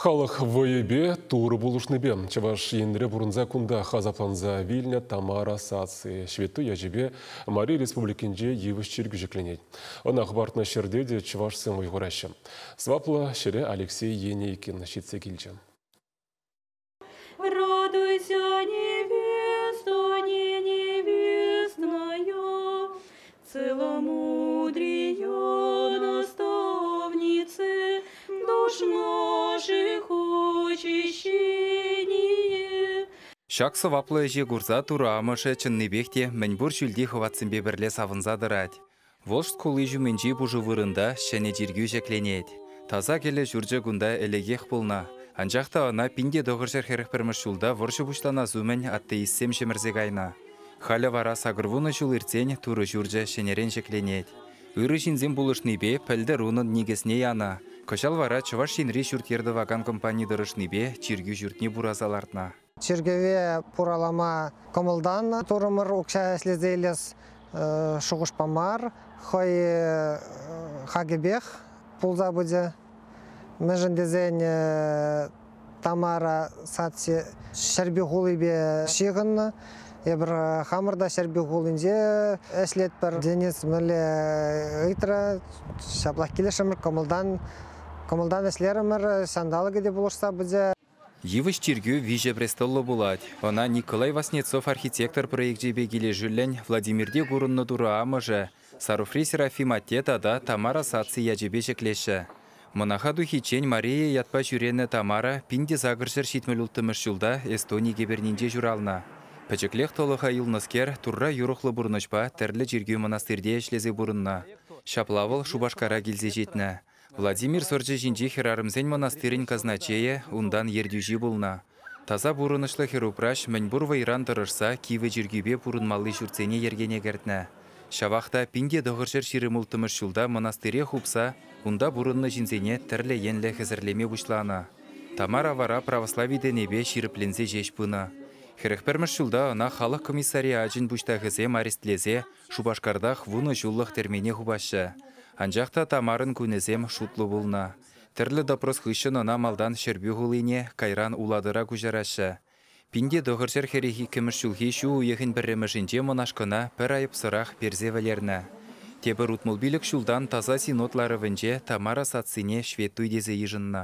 Халӑх вӑйӗпе Турӑ пулӑшнипе Чӑваш Енре пурӑнса кунтах асапланса вилнӗ Тамара Саци ҫветтуй ячӗпе Мари Республикинче йывӑҫ чиркӳ ҫӗкленет. Ӑна хӑпартнӑ ҫӗрте те чӑвашсем вӑй хураҫҫӗ. Сӑваплӑ ҫӗре Алексей Енейкин ҫитсе килчӗ. Радуйся невеста, невестная, Целомудрие наставнице, душ наших очищение. Ҫак сӑваплӑ ӗҫе курса Турӑ амӑшӗ чӑннипех те мӗнпур ҫӳлти хӑватсемпе пӗрле савӑнса тӑрать. Волжск хули ҫумӗнчи пушӑ вырӑнта ҫӗнӗ чиркӳ ҫӗкленет. Таса кӗлӗ ҫурчӗ кунта ӗлӗкех пулнӑ, анчах та ӑна пин те тӑхӑрҫӗр хӗрӗх пӗрмӗш ҫулта вӑрҫӑ пуҫланас умӗн атеистсем ҫӗмӗрсе кайнӑ. Халӗ вара сакӑрвунӑ ҫул иртсен Турӑ ҫурчӗ ҫӗнӗрен ҫӗкленет. Ырӑ ҫынсем пулӑшнипе пӗлтӗр унӑн никӗсне янӑ. Кӑҫал вара Чӑваш Енри ҫурт-йӗр тӑвакан компани тӑрӑшнипе чиркӳ ҫуртне пураса лартнӑ. Чиркӗве пуралама кӑмӑлтанӑ турӑмӑр. Укҫа ӗҫлесе илес шухӑшпа мар, хӑй хакӗпех пулса пычӗ. Мӗншӗн тесен Тамара садси Ҫӗрпӳ хулипе ҫыхӑннӑ. Эпир хамӑр та Ҫӗрпӳ хулинче ӗҫлетпӗр. Денис мӗнле ыйтрӗ, ҫаплах килӗшрӗмӗр, кӑмӑлтан кӑмӑлтан ӗҫлерӗмӗр. Ҫанталӑкӗ те пулӑшса пычӗ. Йывӑҫ чиркӳ виҫӗ престоллӑ пулать. Ӑна Николай Васнецов архитектор проекчӗпе килӗшӳллӗн Владимирте курӑннӑ Турӑ Амӑшӗ, Саруфри Серафим атте тата Тамара саци ячӗпе ҫӗклеҫҫӗ. Мӑнаха тухиччен Мария ятпа ҫӳренӗ Тамара пин те сакӑр ҫӗр ҫитмӗл улттӑмӗш ҫулта Эстони кӗпернинче ҫуралнӑ. Пӗчӗклех тӑлӑха юлнӑскер Турра юрӑхлӑ пурнӑҫпа тӗрлӗ чиркӳ-мӑнастирте ӗҫлесе пурӑннӑ. Ҫапла вӑл Шупашкара килсе ҫитнӗ. Владимир сӑрчӗ ҫинчи хӗрарӑмсен мӑнастирӗн казначейӗ, унтан ертӳҫи пулнӑ. Таса пурӑнӑҫлӑ хӗрупраҫ мӗнпур вӑйран тӑрӑшса кивӗ чиркӳпе пурӑнмалли ҫуртсене йӗркене кӗртнӗ. Ҫавах та пин те тӑхӑрҫӗр ҫирӗм улттӑмӗш ҫулта мӑнастире хупса унта пурӑннӑ ҫынсене тӗрлӗ енлӗ хӗсӗрлеме пуҫланӑ. Тамара вара православи тӗнӗпе ҫирӗпленсе ҫеҫ пынӑ. Хӗрӗх пӗрмӗш ҫулта ӑна халӑх комиссариачӗн пуҫтахӗсем арестлесе Шупашкартах вунӑ ҫуллӑх тӗрмене хупаҫҫӗ. Анчах та Тамарӑн кунӗсем шутлӑ пулнӑ. Тӗрлӗ допрос хыҫҫӑн ӑна малтан Ҫӗрпӳ хулине, кайран Улатӑра куҫараҫҫӗ. Пинте тӑхӑр ҫӗр хӗрӗх иккӗмӗш ҫулхи ҫу уйӑхӗн пӗрремӗшӗнче монашкӑна пӗр айӑпсӑрах персе вӗлернӗ. Тепӗр утмӑл пилӗк ҫултан Таса Синод ларӑвӗнче Тамара сассине ҫветтуй тесе йышӑннӑ.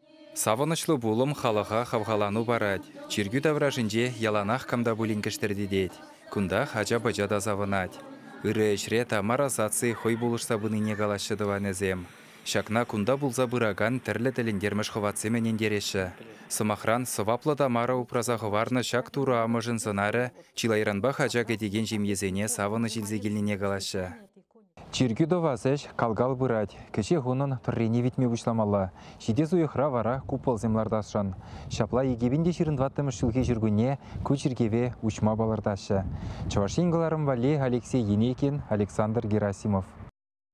Савӑнӑҫлӑ пулӑм халӑха хавхалану парать, чиркӳ таврашӗнче яланах кам та пулин кӗштӗртетет. Кунтах ача-пӑча та савӑнать. Ырӑ ӗҫре Тамара саци хӑй пулӑшса пынине калаҫҫӗ тӑванӗсем. Ҫакна кунта пулса пыракан тӗрлӗ тӗлӗнтермӗш хӑватсем ӗнентереҫҫӗ. Сӑмахран, сӑваплӑ Тамара упраса хӑварнӑ ҫак турӑ амӑшӗн сӑнарӗ чылайранпах ача кӗтекен ҫемьесене савӑнӑҫ илсе килнине калаҫҫӗ. Чиркӳ тӑвас ӗҫ кал-кал пырать. Кӗҫех унӑн пӗррине витме пуҫламалла. Ҫитес уйӑхра вара куполсем лартасшӑн. Ҫапла икӗ пин те ҫырӑн тӑваттӑмӗш ҫулхи ҫуркунне ку чиркӗве уҫма палӑртаҫҫӗ. Чӑваш Ен кӑларӑм валли Алексей Енейкин, Александр Герасимов.